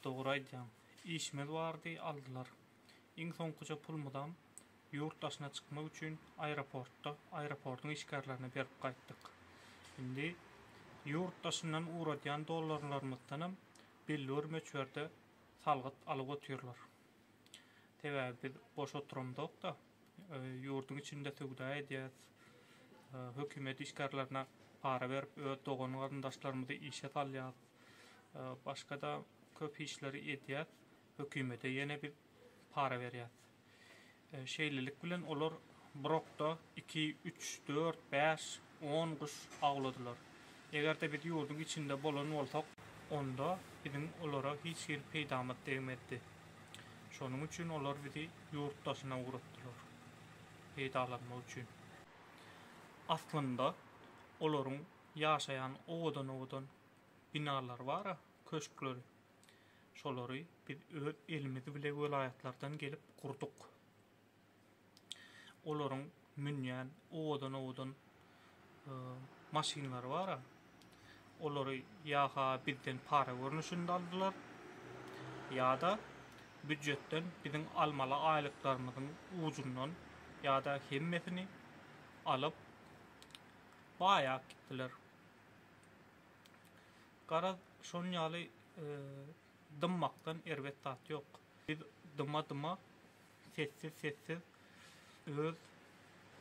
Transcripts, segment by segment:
Dogry aýdýaň. Işimiz bardy, aldylar. Iň soňkuja pulumyzam ýurt daşyna çykmak üçin aeroportda aeroportyň işgärlerine berip gaýtdyk. Indi ýurt daşyndan ugradýan dollarlarymyzdanam belli bir möçberde salgyt alyp otyrlar. Sebäbi biz boş oturamzok-da, ýurduň içinde söwda edýäs, hökümet işgärlerine para berip öz dogan-garyndaşlarymyzy işe salýas. Başga-da köp işleri edýär, hökümete ýene biz para berýäs. Şeýlelik bilen olar bir okda iki, üç, dört, bäş, on guş awladylar. Eger-de biz ýurduň içinde bolan bolsak, onda biziň olara hiç hili peýdamyz degmezdi. Şonuň üçin olar bizi ýurt daşyna ugratdylar, peýdalanmak üçin. Aslynda, olaryň Ýaşaýan owadan-owadan binalary bar-a, köşkleri. Şolary biz öz elimiz bile welaýatlardan gelip gurduk. Olaryň münýän owadan-owadan maşynlary bar-a, olary ýa-ha bizden para görnüşinde aldylar, ýa-da býujetden biziň almaly aýlyklarymyzyň ujundan ýa-da hemmesini alyp, Baýap gitdiler. Garaz, şonuň ýaly dymmakdan erbet zat ýok. Biz dyma-dyma, sessiz-sessiz öz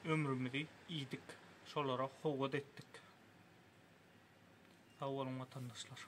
ömrümizi iýdik, şolara howat etdik. Sag boluň, watandaşlar!